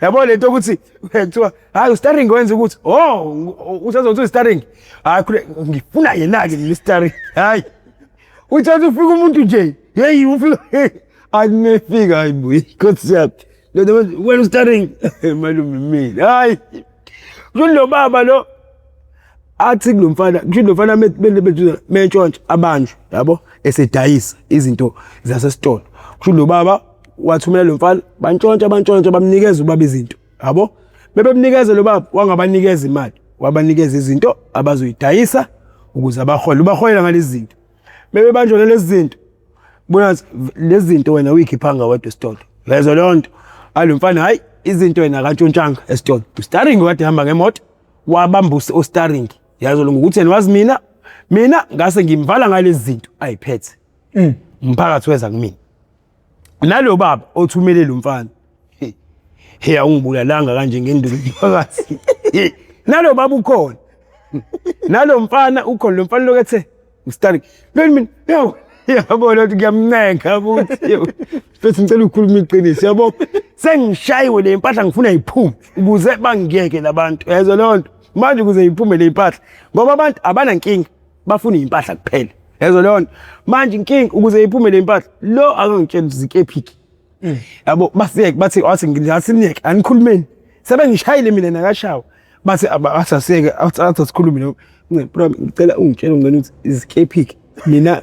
yabo lento ukuthi kuthiwa hayi ustaring wenza ukuthi oh usazothi ustaring hayi ngifuna yena ke le staring hayi uthatha ufika umuntu nje hey ufika anefika hayi boy inkosi yami lento wena ustaring malume mina hayi kulo baba lo athi kulomfana kusho lomfana bethu mentshontsha abanjwe yabo esedayisa izinto zasesitolo kusho lo baba wathumela lo mfana bantshontsha bantshontsha bamnikeza ubaba izinto yabo bebemnikeza lo baba wangabanikeza imali wabanikeza izinto abazoyidayisa ukuze abahole ubaholela ngalezi zinto bebebanjwa nalezi zinto bona lezi zinto wena uyikhiphanga wedwa esitolo lezo leyo nto alo mfana hhayi izinto yena akantshontshanga esitolo ustaring kade hamba ngemoto wabamba ustaring yazo lunga ukuthi yena wazi mina mina ngase ngimvala ngalezi zinto ayiphethe mm. umphakathi weza kumina Nalo baba othumele lo mfana. Hey awungibulalanga kanje ngenduku phakathi. Nalo baba ukhona. Nalo mfana ukhona lo mfana lokethe uStani. Lweni mina yawu yabona ukuthi kuyamnenga futhi. Futhi ngicela ukukhuluma iqiniso yabo. Sengishayiwe le mpahla ngifuna iphume ukuze bangiyeke labantu. Yezwa lonto. Manje ukuze iphume le mpahla ngoba abantu abanankinga. bafuna impahla kuphela yazo leyo nto manje inkinga ukuze iphume le mpahla lo akangitshela zikephiki mm. yabo basiyeke bathi wathi ngilasiniyeke anikhulumeni sebengishayile mina nakashawa bathi asasiyeke athi asikhulume lo ngicela ungitshele ngicela ukuthi izikephiki mina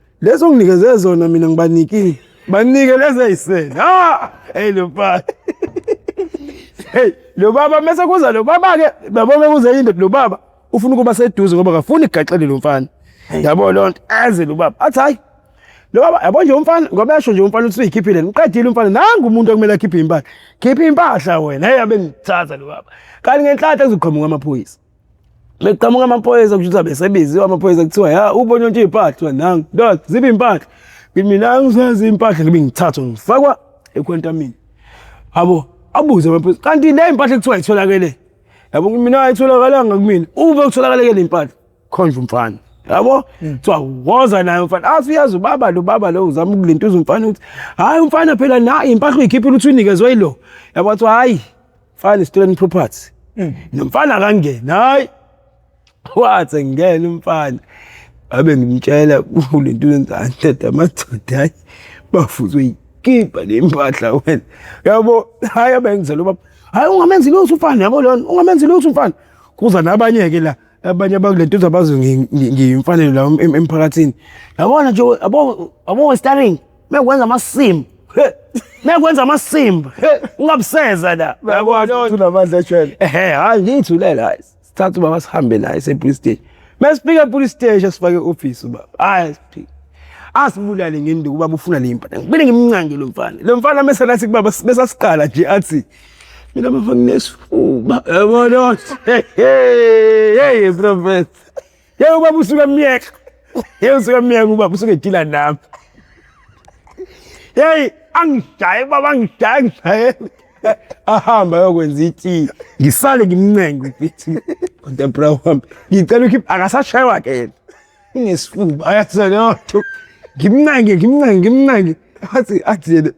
Lezo nginikeze zona mina ngibanikile. Banike lezi ayisele. Ha! Hey lo baba. Hey lo baba mase kuza lo baba ke babo bekuze indoda lo baba ufuna ukuba seduze ngoba akafuni igaxele lo mfana. Yabo lo nto aze lo baba athi hayi lo baba yabo nje umfana ngoba yasho nje umfana uthi uyikhiphile ngiqedile umfana nangu umuntu okumele akhiphe impahla. Khipha impahla wena hey abe ngithatha lo baba. Kanti ngenhlanhla kuzoqhamuka amaphoyisa. Beqhamuka amaphoyisa kusho ukuthi abesebiziwe amaphoyisa kuthiwa ya ubonye nje impahla nangu ndoda zibe impahla mina angisazi impahla ngibe ngithathwa ngifakwa ekhwentamini abo abuze amaphoyisa kanti le impahla kuthiwa itholakele yabo mina ayitholakalanga kumina ube kutholakale ke le impahla khonje umfana yabo hmm. kuthiwa woza naye umfana athi uyazi ubaba lo baba lo uzama ukulintuza umfana ukuthi hhayi umfana phela naye impahla uyikhiphile ukuthi uyinikezwe yilo yabo kuthiwa hhayi Mfana stolen property. Mm. Nomfana akangena. Hayi. Wathe ngene umfana. Abe ngimtshela kulento yenzani tata madoda hayi bafuzwe ikipa lempahla wena. Yabo hayi abengizela ubaba. Hayi ungamenzi lutho umfana yabo lona ungamenzi lutho umfana. Kuza nabanye ke la. abanye abakulento zabazi ngiyimfanelo la emphakathini yabona nje abo abo starring mekwenza amasimba mekwenza amasimba ungabuseza la yabona unamandla ejele ehe hayi ngiyithulela hayi sithatha ubaba sihambe naye sepolice station mesifika epolice station sifake office ubaba hayi siphike asibulale ngenduku ubaba ufuna le mpahla ngibile ngimncange lo mfana lo mfana meselathi kubaba besasiqala nje athi Mina baba nginesifuba. Yabona. Hey, prophet. Yebo baba usuka myeka. Yebo usuka myeka ubaba usuke edila nami. Hey, angishaye baba angishaye angishaye. Ahamba yokwenza iti. Ngisale ngimncenge ubithi. Kodwa bra wami. Ngicela ukhipha akasashaywa ke yena. Ngesifuba ayathi senotho. Ngimncenge ngimncenge ngimncenge. Athi athi yena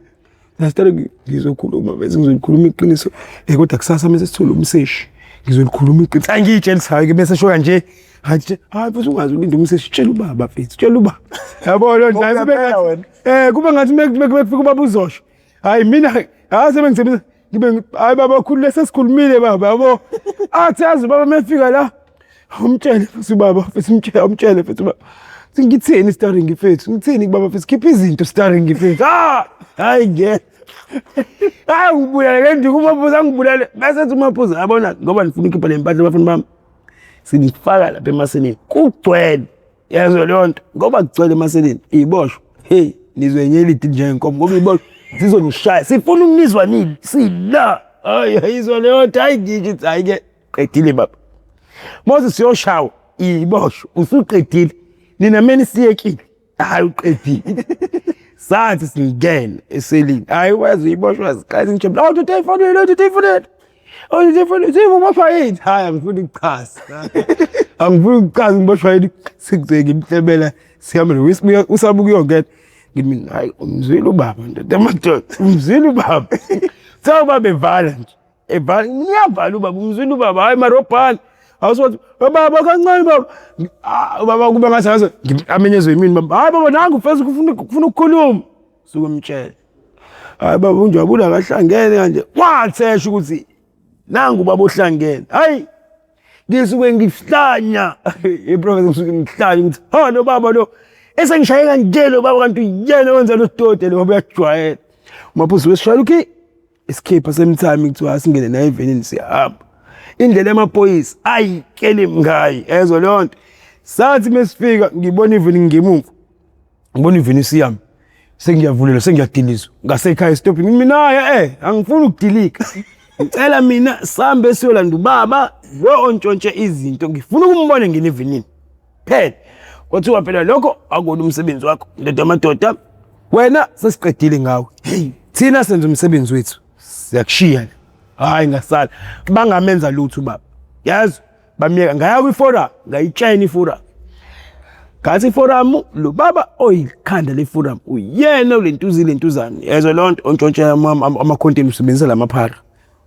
Ngasithatha ngizokhuluma bese ngizolikhuluma iqiniso eh kodwa kusasa mase sithole umseshi ngizolikhuluma iqiniso hayi ngiyitshelisayo ke bese shoya nje hayi hayi futhi ungazi ulinda umseshi tshela ubaba mfethu tshela ubaba yabo lo nje kube eh kube ngathi mekufika ubaba uzosho hayi mina hayi sebengisebenza ngibe hayi baba khulu lesesikhulumile baba yabo athi yazi baba mefika la Awumtshele futhi ubaba futhi umtshele awumtshele futhi ubaba. Futhi Ngithini starring mfethu? Ngithini kubaba futhi khipha izinto starring mfethu. Ah! Hayi ngeke. Hayi ngibulale kanti kumaphuza ngibulale. Bese ethi umaphuza yabona ngoba nifuna ukhipha le mpahla bafana bami. Sinifaka lapha emaseleni. Kugcwele. Yezwa leyo nto. Ngoba kugcwele emaseleni. Iboshwa. Hey, nizwe nyelidi njengenkomo ngoba iboshwa sizonishaya. Sifuna ukunizwa nini? Sila. Hayi ayizwa leyo nto. Hayi ngike hayi ke. qedile baba moses yoshawa ibosho usuqedile nina meni siyekile hayi uqedile sathi singene eselini hayi wazi uyiboshwa ziqala injebe la uthi uyifonele uthi uyifonele uthi uyifonele uthi uboshwa yini hayi angifuni ukuchaza angifuni ukuchaza ngiboshwa yini sikuze ngimhlebela sihambele wisibuya usabuka uyongena ngimi hayi umzwile ubaba ndoda amadoda umzwile ubaba sawuba bevala nje evala ngiyavala ubaba umzwile ubaba hayi marobhani awusothi baba kancane baba Ah, ubaba kube ngathi ngaze amenyezwe yimini baba hayi baba nangu mfethu kufuna kufuna ukukhuluma suke umtshele hayi baba unjabula akahlangene kanje wathesha ukuthi nangu baba ohlangene hayi ngisuke ngihlanya iprofesa ngisuke ngihlanya ukuthi ha lo baba lo esengishaye kanje lo baba kanti uyena wenza lo sitode lo baba uyajwayela umaphuzi wesishayela ukhi isikhipha semthami kuthiwa asingene naye evenini siyahamba indlela yamaphoyisa ayi keli mngayi ezwe leyo nto sathi mesifika ngibona iveni ngemumva ngibona iveni siyami sengiyavulelwa sengiyadilizwa ngasekhaya esitopini mina-ke eh angifuni ukudilika ngicela mina sambe siyolanda ubaba lo ontshontshe izinto ngifuna ukumbona ngene evenini phela kwathiwa phela lokho akuwona umsebenzi wakho ndoda amadoda wena sesiqedile ngawe hey thina senza umsebenzi wethu siyakushiya hayi ngasala bangamenza lutho baba yazi bamyeka ngaya kwiforum ngayitshena iforum ngathi iforum lo baba oyikhanda leforum uyena ulentuzi lentuzane yezwa lonto ontshontshela amakhonteni usebenzisa lamaphara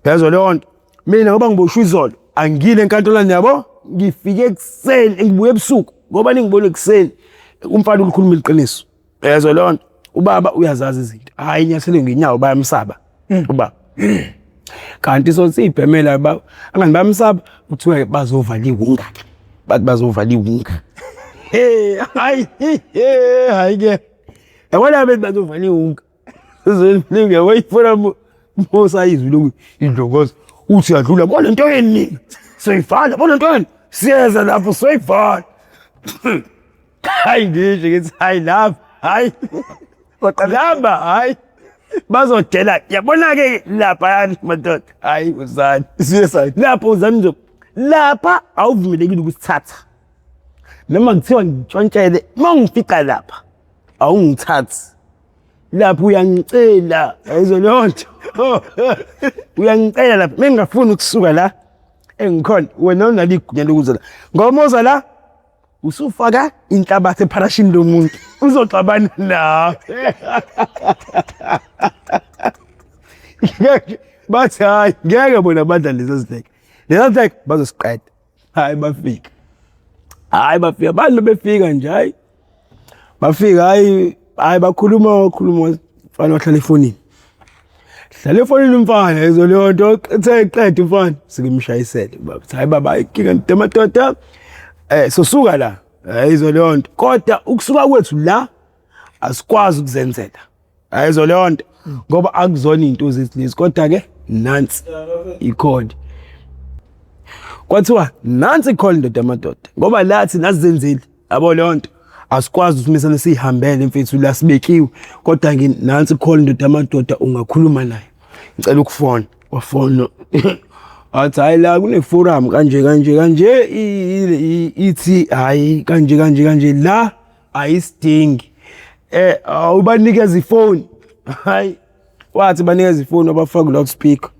yezwa lonto mina ngoba ngiboshwe izolo angile enkantolwane yabo ngifike ekuseni ngibuye ebusuku ngoba ningibona ekuseni umfana ulikhuluma iqiniso yezwa leyo nto ubaba uyazazi izinto hhayi inyathelo ngenyawo bayamsaba hmm. ubaba kanti so siyibhemela angani bayamsaba kuthiwa bazovala iwunga bathi bazovala iwunga hhayi hhayi-ke yabona bethi bazovala iwunga Zindlinge wayifuna Musa izwi lokuthi indlokozo uthi yadlula bona into yeni soyivala bona into yeni siyeza lapho soyivala hayi ngisho ngithi hayi lapha hayi kodwa hayi bazodela yabona-ke lapha yani madoda hayi uzani siyesani lapho uzani nje lapha awuvumelekile ukusithatha noma kuthiwa ngitshontshele uma ngifica lapha awungithathi lapho uyangicela yayizwa leyo nto uyangicela lapho mengingafuni ukusuka la engikhona wena unalo igunya lokuza la ngoba uza la usufaka inhlabathi epharashini lomuntu uzoxabana nawe bathi hayi ngeke bona badla lezi zidleke lezi zidleke bazosiqeda hayi bafika hayi bafika abantu befika nje hayi bafika hayi hayi bakhuluma wakhuluma mfana wahlala efonini hlala efonini umfana ezo leyo nto ethe qeda umfana sikimshayisele baba hayi baba ikinga ntematota eh sosuka la hayi izo leyo nto kodwa ukusuka kwethu la asikwazi ukuzenzela ayizo leyo nto ngoba akuzona into zizilezi kodwa ke nansi ikhodi kwathiwa nansi ikholi ndoda amadoda ngoba lathi nasizenzile yabo leyo nto asikwazi usimisana sihambele mfethu la sibekiwe kodwa ngi nansi ikholi ndoda amadoda ungakhuluma naye ngicela ukufona wafona athi hayi la kune forum kanje kanje kanje ithi hayi kanje kanje kanje la ayisidingi eh awubanikeza ifoni hayi wathi banikeza ifoni wabafaka loud speaker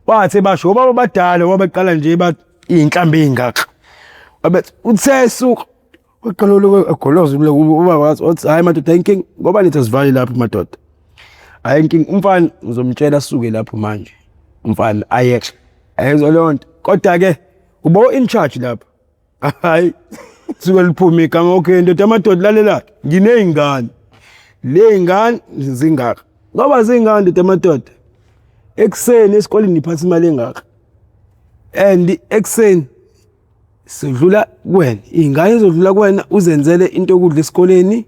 wathi basho ngoba babadala wabaqala nje bathi inhlambi ingaka wabethi uthesuka uqala lokugoloza umle uba wathi wathi hayi madoda inking ngoba nithi asivali lapho madoda hayi inking umfana ngizomtshela suke lapho manje umfana ayeke ayezwa lonto kodwa ke ubo in charge lapho hayi suke liphume igama okay ndoda amadoda lalela nginey'ngane ley'ngane zingaka ngoba zingaka ndoda amadoda ekuseni esikoleni ngiphatha imali engaka and ekuseni sidlula kuwena iy'ngane zodlula kuwena uzenzele into yokudla esikoleni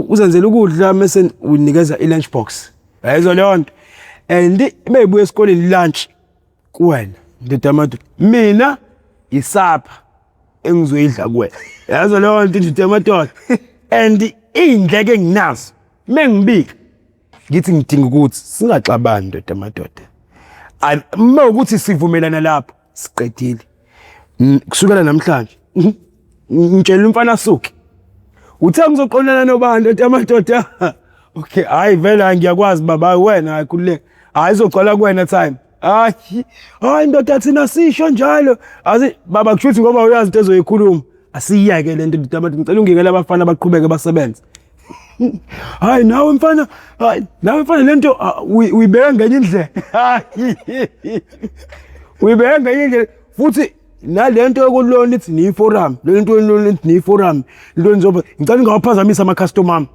uzenzela ukudla mese unikeza i-lunch box yayizwa leyo nto and meyibuya esikoleni lunch kuwena ndoda yamadoda mina yisapha engizoyidla kuwena yazo leyo nto ndoda yamadoda and iy'ndleko enginazo uma ngibika ngithi ngidinga ukuthi singaxabani ndoda yamadoda uma ukuthi sivumelana lapho siqedile kusukela namhlanje mhm. ngitshela umfana asuke uthe ngizoqonana nobani ethi amadoda okay hayi vele hayi ngiyakwazi baba wena hayi kululeka hayi izogcwala kuwena time hayi hayi ndoda thina sisho njalo azi baba kushuthi ngoba uyazi into ezoyikhuluma asiyeke lento ndoda amadoda ngicela ungikele abafana baqhubeke basebenze Hayi nawe mfana, hayi nawe mfana lento ah, uyibeka ngenye indlela. Uyibeka ngenye indlela futhi nalento yokulona ithi ni forum, lento yolona ithi ni forum, into enzoba ngicela ungawaphazamisa ama customer ami.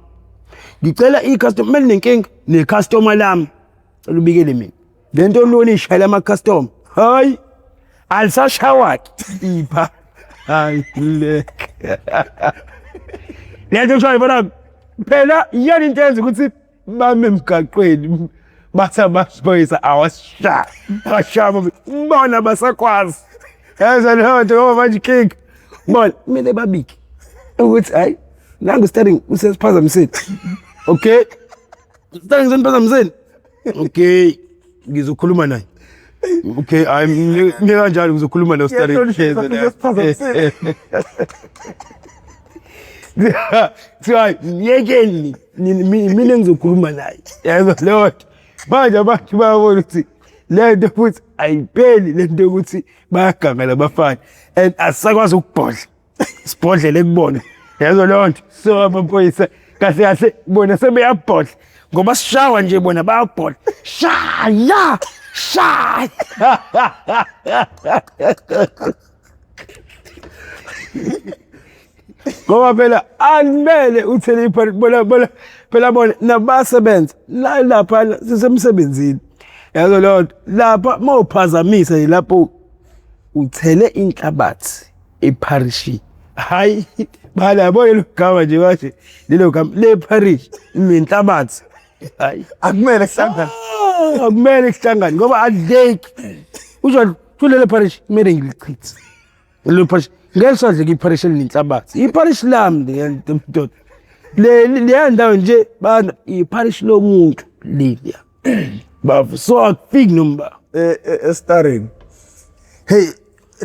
Ngicela i customer mele nenkinga ne customer lami. Cela ubikele mina. Le nto lona ishayela ama-custom hayi alisashawaki ipha hayi le le nto kushayo bona phela iyona into yenza ukuthi bame emgaqweni bathi amaphoyisa awasishayi ashaya bona basakwazi yaza leyo nto ngoba manje ikinga bona kumele babike ukuthi hhayi nangu steering usesiphazamiseni okay steering seniphazamiseni okay ngizokhuluma naye okay hayi ngikanjalo ngizokhuluma naye ustari kuthiwa myekeni mina ngizokhuluma naye yayizwa leyo nto manje abantu bayabona ukuthi le nto futhi ayipheli le nto yokuthi bayaganga labafana and asisakwazi ukubhodla sibhodlele kubona yazo leyo nto so amaphoyisa kahle kahle bona sebeyabhodla ngoba sishawa nje bona bayabhodla shaya shaya ngoba phela alimele uthele ipart bona bona phela bona nabasebenza la lapha sisemsebenzini yazo leyo nto lapha mawuphazamisa yilapho uthele inhlabathi ipharishi hayi bala yabo lelo gama nje bathi lelo gama le parish nenhlabathi hayi akumele kuhlangane ah, akumele kuhlangane ngoba adleki uzwa kulelo parish kumele ngilichithe lelo parish ngeke sadleke iparish elinenhlabathi iparish lami ngiyantomtoto le leya ndawo nje bana iparish lomuntu leliya bavu so akufiki nomba eh, eh, estarring hey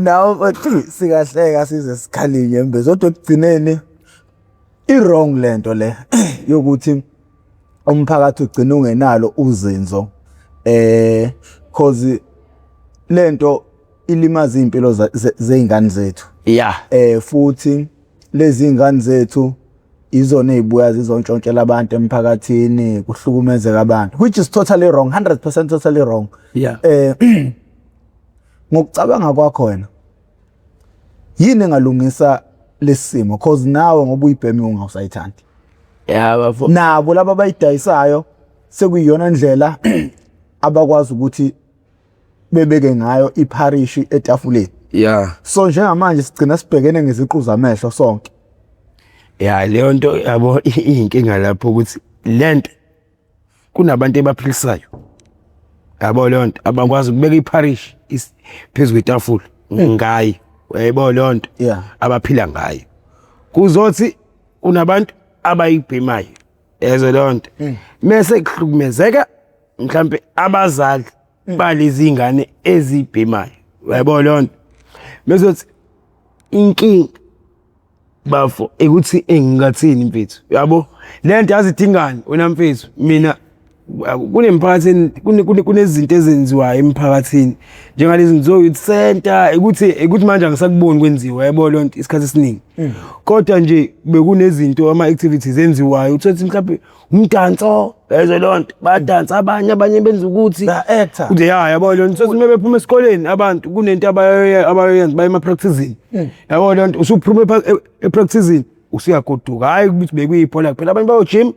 nawo bathi sikahleka size sikhalinye mbe zodwa ekugcineni i-wrong lento le yokuthi umphakathi ugcina ungenalo uzinzo eh cause lento ilimaza impilo zeingane zethu yeah eh futhi Lezi ingane zethu izona ezibuya zizontshontshela abantu emphakathini kuhlukumezeka abantu which is totally wrong 100% totally wrong yeah eh ngokucabanga kwakho wena yini engalungisa lesimo cause nawe ngoba uyibhemi ungawusayithandi yeah bafo nabo laba bayidayisayo sekuyiyona ndlela abakwazi ukuthi bebeke ngayo ipharishi etafuleni yeah so njengamanje sigcina sibhekene ngeziqu zamehlo sonke yeah leyo nto yabo inkinga lapho ukuthi lento kunabantu ebaphilisayo yabo leyo nto abakwazi ukubeka ipharishi phezu kwetafula hmm. ngayi yebo leyo nto abaphila ngayo kuzothi unabantu abayibhemayo yazo lonto mm. mese kuhlukumezeka mhlambe abazali mm. balezi ingane ezibhemayo yabo lonto mesothi inkinga bafo ekuthi engingathini mfethu yabo lento yazidingani wena mfethu mina kunemphakathini kunezinto ezenziwayo emphakathini njengalezi ngizoyo youth center ukuthi ukuthi manje angisakuboni kwenziwa yabo lo nto isikhathi esiningi hmm. kodwa nje bekunezinto ama activities enziwayo uthothi mhlawumbe umdanso ezwe lo nto badansa abanye abanye benza ukuthi nje ya yabo lo nto uma bephuma esikoleni abantu kunento abayoyenza baye ema-practicini hmm. yabo lo nto usuphuma e-, e-, e-practicini usuyagoduka hhayi ukuthi bekuyibhola kuphela abanye bayojima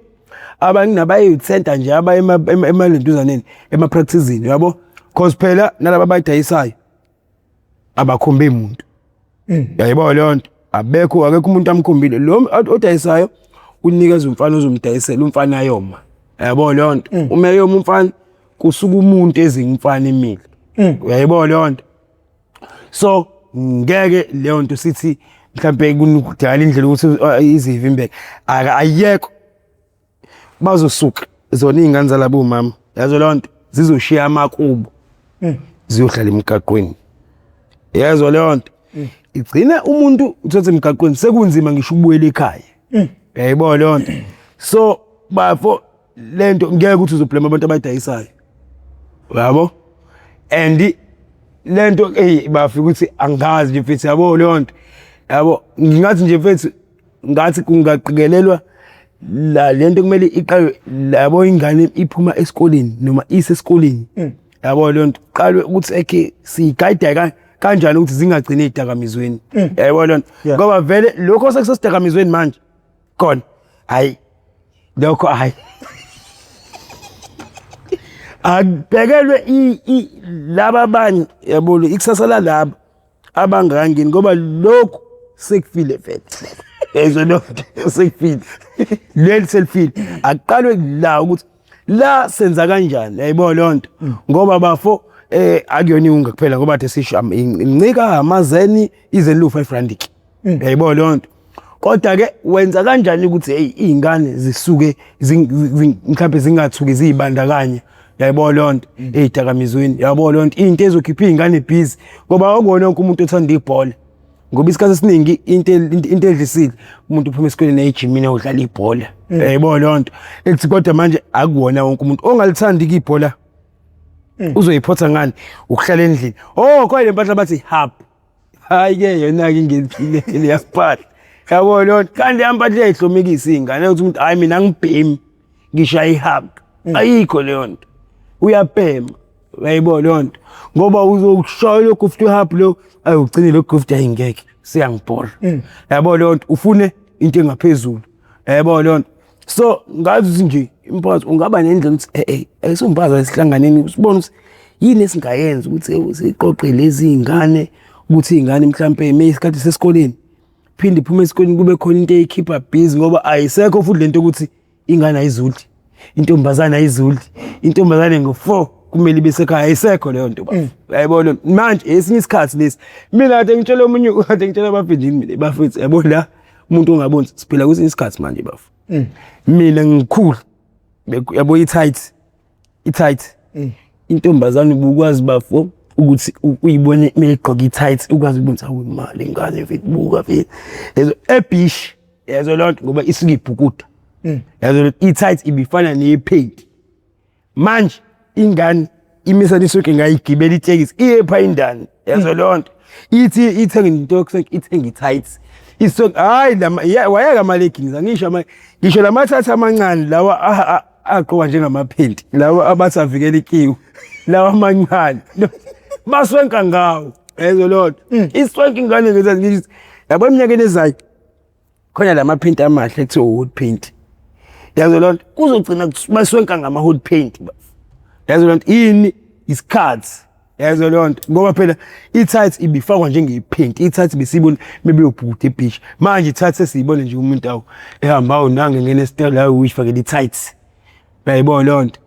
abanye nabayeyithenta nje aba emalentuzaneni emapracticini yabo cause phela nalaba abayidayisayo abakhombe muntu mm. yayibona leyo nto abekho akekho umuntu amkhombile lo odayisayo unikeza umfana ozomdayisela umfana ayoma yabo leyo nto mm. uma eyoma umfana kusuka umuntu ezingumfana imile mm. uyayibona leyo nto so ngeke leyo nto sithi mhlampe kunukudala indlela ukuthi uh, izivimbeke ayekho bazosuka zona iy'ngane zalabo mama yazo leyo nto zizoshiya amakubo hmm. ziyohlala emgaqweni yezwa leyo nto hmm. igcina umuntu uthathe emgaqweni sekunzima ngisho ukubuyela ekhaya hmm. yayibona leyo nto so bafo le nto ngeke ukuthi uzoblema abantu abayidayisayo yabo and le nto eyi bafika ukuthi angazi nje mfethu yabo leyo nto yabo ngingathi nje mfethu ngathi kungaqikelelwa la le nto kumele iqalwe yabo ingane iphuma esikoleni noma isesikoleni mm. yabo leyo nto qalwe ukuthi ekhe siyigayida kanjani ukuthi zingagcini ey'dakamizweni mm. yabo leyo nto ngoba vele lokho sekusesidakamisweni manje khona hayi lokho hayi akubhekelwe laba abanye yabona ikusasa lalaba abangangini ngoba lokhu sekufile vele ezwe lokhu sekufile leli selifile akuqalwe la ukuthi la senza kanjani yayibo lonto mm. ngoba bafo eh akuyona iwunga kuphela ngoba the sisho incika amazeni izelu 5 randik mm. yayibo lonto kodwa ke wenza kanjani ukuthi hey izingane zisuke mhlawumbe zingathuki zizibandakanye yayibo lonto mm. ezidakamizweni yabo lonto into ezokhipha izingane busy ngoba akona wonke umuntu othanda ibhola ngoba isikhathi esiningi into into edlisile umuntu uphuma esikoleni ejimini udlala ibhola mm. yebo lonto ethi kodwa manje akuwona wonke umuntu ongalithandi ibhola mm. uzoyiphotha ngani ukuhlala endlini oh kwaye lempahla bathi hub hayi ke yona ke ngeliphile leyaphatha yabo lonto kanti yampahla ehlomikisa ingane ukuthi umuntu hayi mina ngibhemi ngisho ayihug mm. ayikho leyo nto uyabhema uyayibona leyo nto ngoba uzokushoya lokhu futhi uhub lo ayi ugcine lo gift ayingeke siyangibhora mm. yabo leyo nto ufune into engaphezulu yabo leyo nto so ngazi nje imphathi ungaba nendlela ukuthi eh eh ayisombaza esihlanganeni usibona ukuthi yini esingayenza ukuthi siqoqe lezi ngane ukuthi ingane mhlambe isikhathi sesikoleni phinde iphume esikoleni kube khona into eyikhipha busy ngoba ayisekho futhi lento ukuthi ingane ayizulti intombazane ayizulti intombazane ngo-four kumele ibe sekhaya ayisekho leyo nto mm. yayibona manje esinye isikhathi lesi mina kade ngitshela omunye kade ngitshela abafindini mina bafethu yabo la umuntu ongaboni siphila kwesinye isikhathi manje bafo mm. mina ngikhulu yabo i-tight i-tight eh. intombazane ubukwazi bafo ukuthi uyibone meyigqoka i-tight ukwazi ukwenza imali ingane mfethu buka mfethu yezo ebish yezo lonto ngoba isuke ibhukuda hmm. yezo i-tight ibifana nephenti manje ingane imisa lisuke ngayigibela itekisi iye pha indani yezo hmm. lonto ithi ithenge into yokusenga ithenge i-tight iso hayi wayeka ama-leggings angisho ngisho lamathatha amancane lawa ah, ah, agqoka njengamaphenti lawa abasavikela ikiwu lawa amancane baswenka ngawo ezo lodwa mm. iswenka ingane ngezazi ngithi yabo eminyakeni ezayo khona lama paint amahle ethi wood paint yazo lodwa kuzogcina baswenka ngama hood paint yazo lodwa yini isikhathi Yazo leyo nto ngoba phela i-tights ibifakwa njengepink, i-tights besiyibona mebeyobhuda ebhishi. Manje i-tights sesiyibona nje umuntu awu ehamba awu nange ngena esitolo la uyifakele i-tights. Uyayibona leyo nto?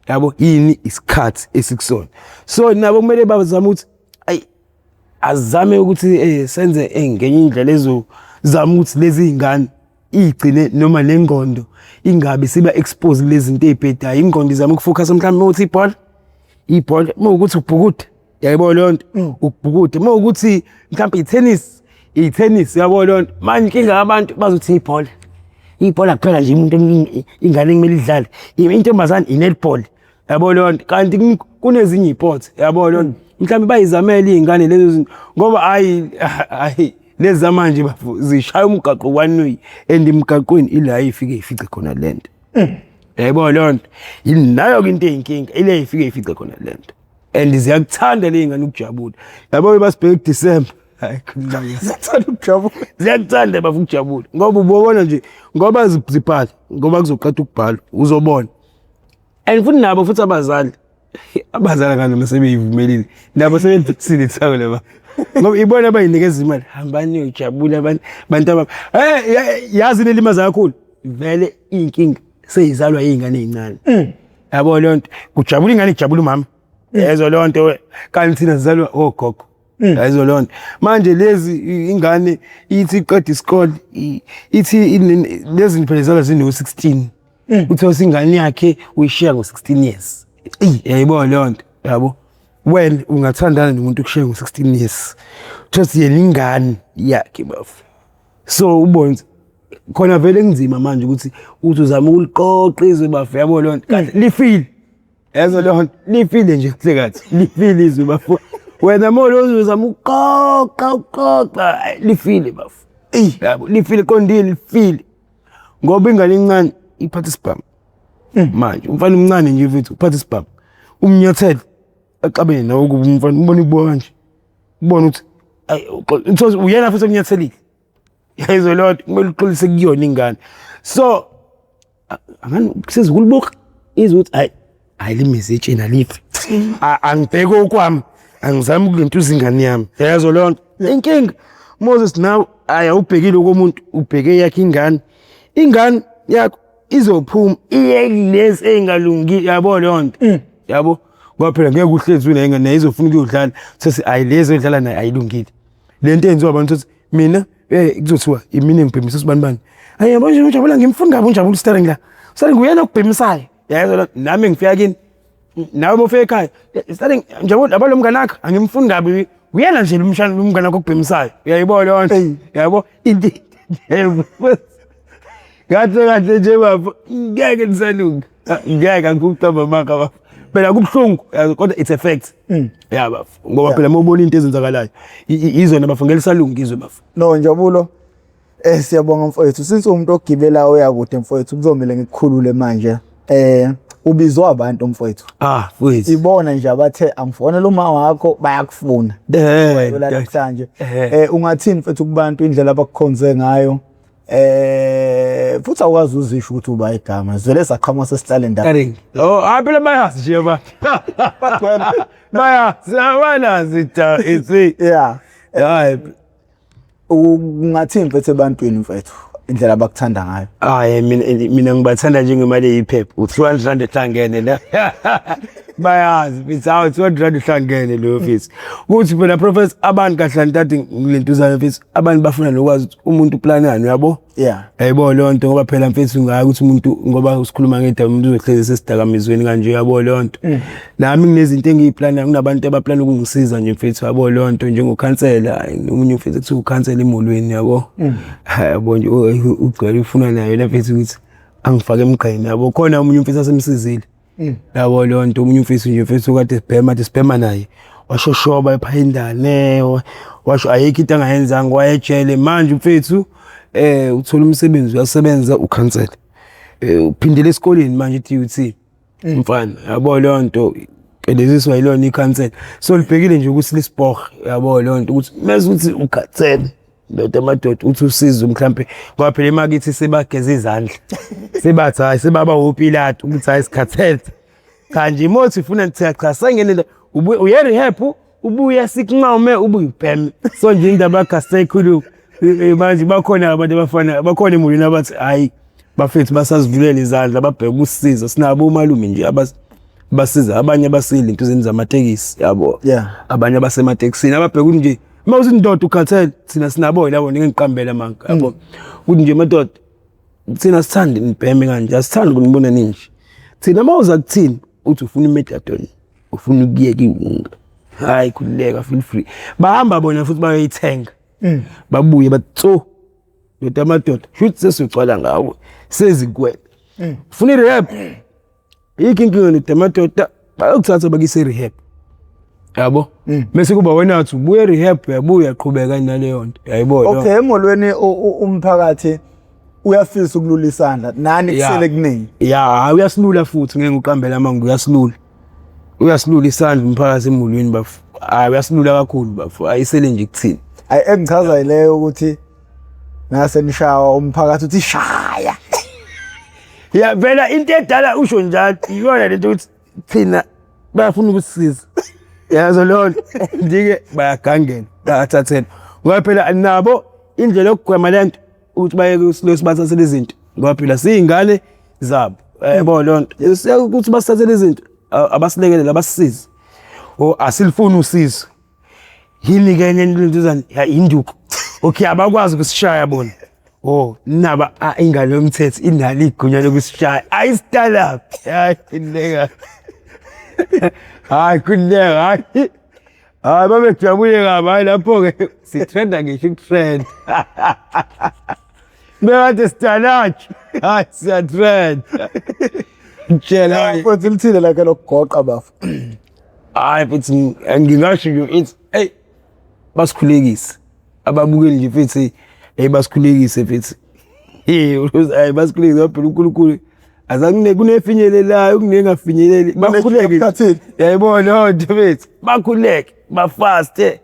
Yabo yini isikhathi esikusona. So nabo kumele bazame ukuthi ayi azame ukuthi eh, senze eh, ngenye indlela ezozama ukuthi lezi ngane igcine noma nengqondo ingabe siba expose lezi zinto ezibhedayo ingqondo izama ukufocus mhlawumbe ukuthi ibhola ibhola uma ukuthi ubhukude yayibona leyo nto mm. ubhukude uma ukuthi mhlawumbe i-tennis i-tennis yabo leyo nto manje inkinga yabantu bazothi ibhola ibhola kuphela nje umuntu ingane kumele idlale intombazane i-netball yabo leyo nto kanti kunezinye iy'port yabo leyo nto mm. mhlawumbe bayizamele iy'ngane lezo zinto ngoba hhayi hhayi lezi zamanje bafo zishaya umgaqo one way and emgaqweni ila ifike ifice khona le nto mm. yayibona leyo nto yinayo-ke into eyinkinga ila ifike ifice khona le nto and ziyakuthanda le ngane ukujabula yabo basibheke kudisemba ziyakuthanda ukujabula ziyakuthanda bafa ukujabula ngoba ubobona nje ngoba zibhala ngoba kuzoqeda ukubhala uzobona and futhi nabo futhi abazali abazali kanti uma sebeyivumelile nabo sebebhekisile ithawu laba ngoba ibona abayinikeza imali hambani uyojabula abantu bantu ababa hey yazi nelimaza kakhulu vele inkinga seyizalwa izingane ezincane mm. yabo lonto kujabula ingane ijabula umama mm. yezo lonto kanti thina sizalwa ogogo oh, Mm. yayizo loo nto manje lezi ingane ithi iqeda isikole ithi lezi phela zala zino-sixteen Mm. Uthe usingane yakhe uyishiya ngo-16 years. Eyi yayibona leyo nto yabo. Wena ungathandana nomuntu okushiya ngo-16 years. Just yena ingane yakhe bafo. So ubone khona vele kunzima manje ukuthi uthi uzama ukuliqoqa izwe bafo yabo leyo nto. Kanti mm. lifile. Yazo leyo nto lifile nje kuhle kathi. Lifile izwe bafo. Wena molo uzama ukuqoqa uqoqa lifile bafo. Eyi yabo lifile qondile lifile. ngoba ingane incane iphatha isibhamu hmm. manje umfana umncane nje mfethu uphatha isibhamu umnyathele axabene nawe ukuba umfana umbona ibuka kanje ubona ukuthi uthos uyena futhi omnyathelile yayizwe leyo nto kumele uxolise kuyona ingane so angani sezikulibuka izwe ukuthi hayi hayi limizi etsheni alithi angibheke okwami angizami ukuluntuza ingane yami yayazo leyo nto inkinga moses nawe ayi awubhekile komuntu ubheke yakhe ingane ingane yakho izophuma iye lezi ey'ngalungi yabo leyo nto mm. yabo ngoba phela ngeke uhlezi unengane naye izofuna ukuyodlala sethi ayi lezi edlala naye ayilungile le nto eyenziwa abantu ukuthi mina eh kuzothiwa imina ngibhemisa usibani bani ayi yabo nje ujabula ngimfuni kabi unjabula usitare ngila usitare nguyena okubhemisayo yayezona nami ngifika kini nawe mofika ekhaya starting njengoba laba lo mngane wakho angimfuni kabi uyena nje lomshana lomngane wakho okubhemisayo uyayibona leyo nto Eyi. yabo into kahle kahle nje bafo ngeke nisalunga Ah, ngeke angikucamba maka bafo phela kubuhlungu yazi, kodwa it's a fact ya bafo ngoba phela uma ubona into ezenzakalayo i- i- izona bafo ngeke lisalunga izwe bafo no njabulo Eh siyabonga mfowethu since umuntu ogibela oyakude mfowethu kuzomela ngikukhulule manje. Eh ubizwa abantu mfowethu. Ah mfowethu. Ibona nje abathe angifonela uma wakho bayakufuna. Eh namhlanje. Eh. eh ungathini mfowethu kubantu indlela abakukhonze ngayo. Eh futhi awukwazi uzisho ukuthi uba igama. Zwele saqhamuka sesihlale ndawo. Karingi. Oh aphela bayazi nje ba. Bayazi abanazi ta ithi. Yeah. Hayi. ungathini mfethu ebantwini mfethu indlela abakuthanda ngayo hayi mina mina ngibathanda njengemali eyiphepha u-200 rand ehlangene la bayazi mfisi hawu 200 rand uhlangene leyo mfisi kuthi phela professor abantu kahle ntathi ngilentuzana mfisi abantu bafuna nokwazi ukuthi umuntu uplanani uyabo yeah yayibona leyo nto ngoba phela mfethu ngayo ukuthi umuntu ngoba usikhuluma ngedaba umuntu uzohlezi sesidakamizweni kanje yabo leyo nto mm. nami nginezinto engiyiplana kunabantu abaplana ukungisiza nje mfethu yabo leyo nto njengokhansela omunye mfethu kuthiwa ukhansela emolweni yabo mm. yabo nje ugcwele ufuna nayo yena mfethu ukuthi angifake emgqeni yabo khona omunye mfethu asemsizile Mm. yabo leyo nto omunye umfisi nje mfisi ukade sibhema athi sibhema naye washoshoba ephayindane wa- washo ayikho into angayenzanga wayejele manje umfethu um uthole umsebenzi uyasebenza ukhansele um uphindele esikoleni manje i-tut mfana yabo leyo nto qedeziswa yilona ikhansela so libhekile nje ukuthi lisipohe yabo leyo nto ukuthi mese ukuthi ukhansele ndoda amadoda uthi usizo mhlampe ngoba phela emakithi sibageza izandla sibathi hayi sibaba wopilati ukuthi hayi sikhathele cha nje imothi ifuna ngithiya cha sengenele uye rehab ubuye sikunqome ubuyibhem so nje indaba kasekhulu manje bakhona abantu abafana bakhona emulini abathi hayi bafethu basazivulela izandla babheke ukusiza sinabo umalume nje abathi basiza abanye abasile into zeni zamatekisi yabo yeah abanye abasematekisini ababheka ukuthi nje uma uthi indoda ukhathele thina sinaboyi labo ningiqambela manga mm. yabo ukuthi nje madoda thina sithanda nibheme kanje asithanda kunibona ninje thina uma uza kuthini uthi ufuna imetadon ufuna ukuyeka iwunga hayi khululeka feel free bahamba bona futhi bayoyithenga mm. babuye batso ndoda amadoda shuthi sesugcwala ngawo sezikwele mm. funa irehab Yikho inkinga nide amadoda bayokuthatha bakise e-rehab. Yabo? Mm. Mese kuba wena athi ubuye e-rehab uyabuya uyaqhubeka naleyo nto. Yayibona. Okay, emholweni umphakathi uyafisa ukulula isandla nani kusele kuningi. Yeah, uyasilula futhi ngeke uqambele amanga uyasilula. Uyasilula isandla umphakathi emholweni bafo. Hayi uyasilula kakhulu bafo. Ayisele nje kuthini. Hayi engichaza ileyo ukuthi ngase nishawa umphakathi uthi shaya ya vela into edala usho njalo iyona lento ukuthi thina bayafuna ukusisiza yazo leyo nto ndike bayagangela bayathathela ngoba phela nabo indlela yokugwema le nto ukuthi bayeke usilosi bathathele izinto ngoba phela siyingane zabo yabo leyo nto ukuthi basithathele izinto abasilekelele abasisize o asilifuni usizo yini ke enye into lentuzana ya induku okay abakwazi ukusishaya bona oh naba ah, ingane yomthetho inalo igunya lokusishaya ayi stand up hayi inleka hayi kunleka hayi hayi babejabule kabi hayi lapho ke sitrenda ngisho ukutrenda bekade sitalaki hayi siyatrenda mtshela futhi lithile lakhe lokugoqa bafo hayi futhi ngingasho nje ithi eyi basikhulekise ababukeli nje futhi eyi basikhulekise futhi hayi basikhulekise ngoba phela unkulunkulu azakune kunefinyelelayo kunengafinyeleli bakhuleke yayibo loo nto bethu bakhuleke bafaste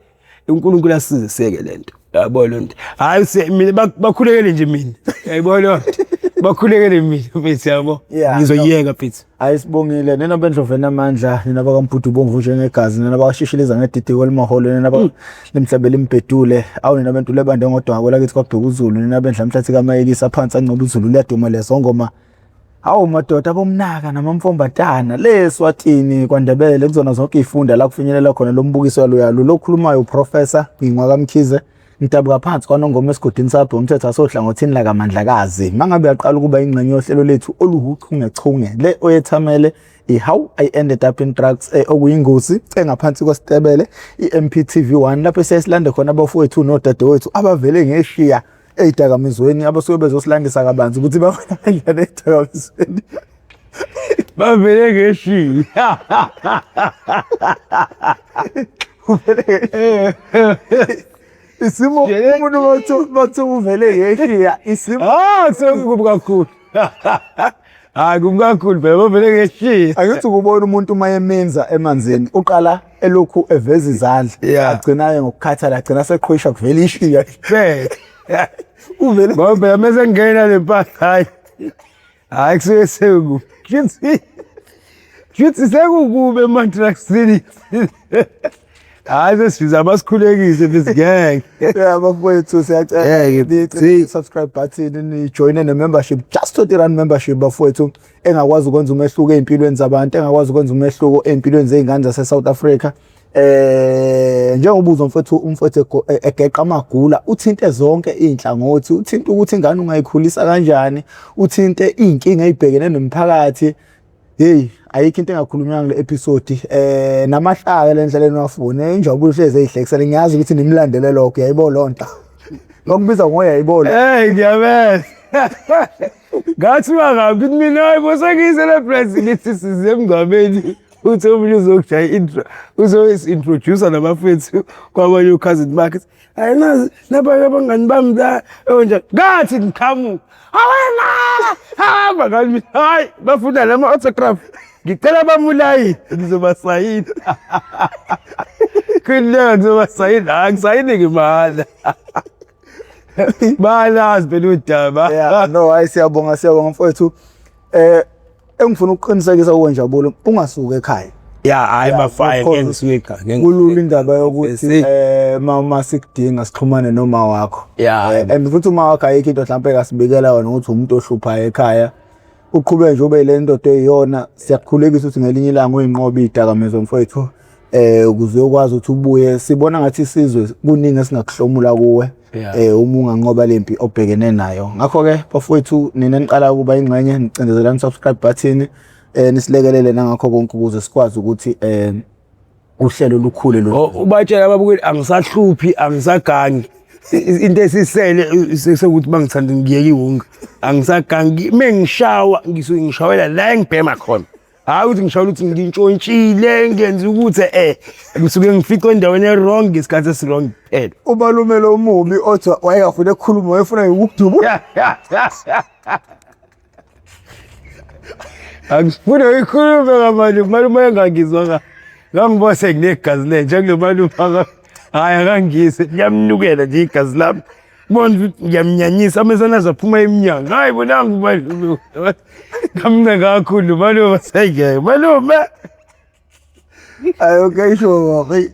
uNkulunkulu asiziseke lento yabo lonto hayi mina bakhulekele nje mina yabo lonto bakhulekele mina mfethu yabo ngizoyeka mfethu hayi sibongile nina bendlovena amandla nina bakampudu bomvu njengegazi nina bakashishiliza ngedidiko elimaholo nina ba limhlabela imbhedule awu nina bentule bande ngodwa kwelakithi kwabheka uzulu nina bendla mhlathi kamayekisa phansi ancoba uzulu liyaduma lezongoma Hawu madoda bomnaka namamfombatana le Swatini kwaNdebele kuzona zonke izifunda la kufinyelela khona lo mbukiso yaloyalo lokhulumayo uProfessor Ngingwa kaMkhize ngidabuka phansi kwanongoma esigodini sabhe umthetho asohlangothini lakamandlakazi mangabe uyaqala ukuba ingxenye yohlelo lethu oluwuchungechunge le oyethamele i-how i ended up in drugs eh, okuyingozi engaphansi kwesitebele i-mptv 1 lapho siyasilande khona abafowethu nodadewethu abavele ngeshiya eyidakamizweni abasuke bezosilandisa kabanzi ukuthi babona kanjani eyidakamizweni bavele ngeshiyi isimo umuntu bathu uvele ngeshiya isimo ah sekukubi kakhulu hayi kumkakhulu phela bavele ngeshiye angithi ukubona umuntu uma yemenza emanzini uqala elokhu eveza izandla Yeah. agcinaye ngokukhathala agcina seqhwisha kuvela ishiya phela uvele ngoba phela mese ngena le mpahla hayi hayi kusuke seku shuthi shuthi sekukube emantraksini hayi sesibiza abasikhulekise this gang yeah bafowethu siyacela ni subscribe button ni join ne membership just to run membership bafowethu engakwazi ukwenza umehluko ezimpilweni zabantu engakwazi ukwenza umehluko ezimpilweni zeingane zase South Africa eh njengobuzo mfethu umfethu e, egeqa amagula uthinte zonke inhlangothi uthinte ukuthi ingane ungayikhulisa kanjani uthinte izinkinga ezibhekene nomphakathi Hey ayikho into engakhulunywanga kule episode eh namahlaka le ndlela enwafuna injabulo hlezi eyihlekisela ngiyazi ukuthi nimlandele lokho yayibo lonto ngokubiza ngoya yayibona hey ngiyabeza ngathi bangabi mina hayibo sengiyiselebrate ngithi size emngcwabeni uthi omunye uzokujaya intro uzoyisi-introducer nabafethu kwabanye ukhazini bakhe hayi nazi nabanye abangani bami onja ngathi ngiqhamuka awena hamba ngani hayi bafuna lama autograph ngicela bamulayi ngizobasayina khulileka ngizobasayina hayi ngisayini ngimala balazi phela udaba no hayi siyabonga siyabonga mfowethu eh engifuna ukuqinisekisa kuwe njabulo ungasuki ekhaya ya hayi mafaya ngeke ngisuke ekhaya kulula indaba yokuthi eh mama sikudinga sixhumane noma wakho ya eh, and futhi uma wakho ayikho into mhlawumbe kasibikela wena ukuthi umuntu ohluphayo ekhaya uqhube nje ube le ndoda eyiyona siyakukhulekisa ukuthi ngelinye ilanga uyinqobe idakamizwa mfowethu eh ukuze uyokwazi ukuthi ubuye sibona ngathi isizwe kuningi esingakuhlomula kuwe yeah. eh uma unganqoba lempi obhekene nayo ngakho ke bafowethu nina niqala ukuba ingxenye nicindezelani subscribe button eh nisilekelele nangakho konke ukuze sikwazi ukuthi eh uhlelo lukhule lo oh, ubatshela babukeli angisahluphi angisagangi into esisele sekuthi bangithanda ngiyeke iwonke angisagangi mengishawa ngisuke ngishawela la engibhema khona hayi ukuthi ngishayela ukuthi ngintshontshile ngenza ukuthi eh ngisuke ngificwe endaweni e-wrong ngesikhathi esi-wrong kuphela umalume lo mubi othi wayengafuni ekukhuluma wayefuna ngikukudubula angifune uyikhulume kamanje umalume engangizwa ka ngangiba senginegazi lenje kulo malume aka- hhayi akangise liyamnukela nje igazi lami Bona ukuthi ngiyamnyanyisa amesana zaphuma emnyango. Hayi bonanga umalume. Kamna kakhulu malume sengeke. Malume. Ayo kayisho wathi